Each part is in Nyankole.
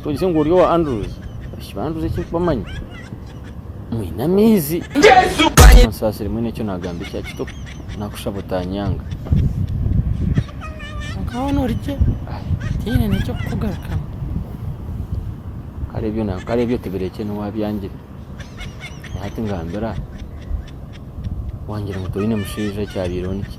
Twegyesye ngu ori owa Andrews. Abaishiki ba Andrews eki nkubamanyi mwine amaizi. Onsaasire mwine eki naagamba ekya kito naakushaba otaanyanga. Kwonka hoona ori gye tihaine n'eky'okukugarukamu. Kare ebyo na kare ebyo tibirekye niwe abyangire. Naye hati ngambira aha. Wangira ngu toine mushaija ekyabaireho niki?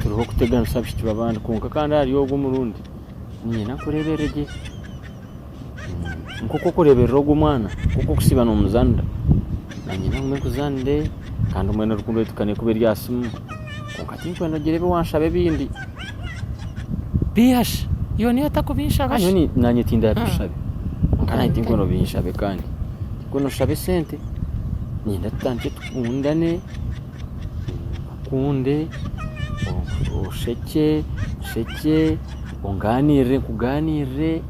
turiho kuteganisa abaishiki babandi kwonka kandi ahari ogu omurundi niinyenda kureeberera gye nk'oku orikureeberera ogu omwana nk'oku orikusiiba nomuzaanira niinyenda ngume nkuzaanire kandi mbwenu rukundo yaitu ekaba eri aha siimu kwonka tinkwenda kugira ebi wanshaba ebindi bihasha iwe niiwe otarikubinshabe shi nyowe naanye tindabishabe kwonka naanye tinkwenda obinshabe kandi tinkwenda oshabe sente niinyenda tutandikye tukundane Nkunde, oshekye, nshekye, ongaaniirire, nkugaaniirire.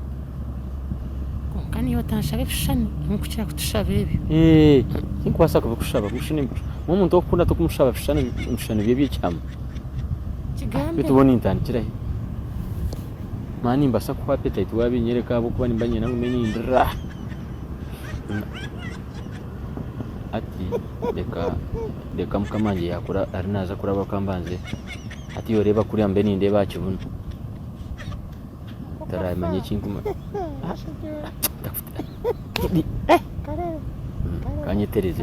Kwonka niiwe otanshaba ebishushani nyowe nkukira kutushaba ebyo. Tinkubaasa kubikushaba ebishushani nyowe omuntu okukunda tokumushaba bishushani ebishushani bye eby'ekyama. Kigambe. Beitu bwo nintandikira hi? Mani nimbaasa kuhwa appetite waabinyoreka ahabw'okuba nimba niinyenda ngume nindira. hati reka reka mukama wangye yakuba ari naaza kuraba ka mbanze hati oreeba kuriya mbe nindeeba aha kibunu taraamanya eki nkumu aah ka nyetereze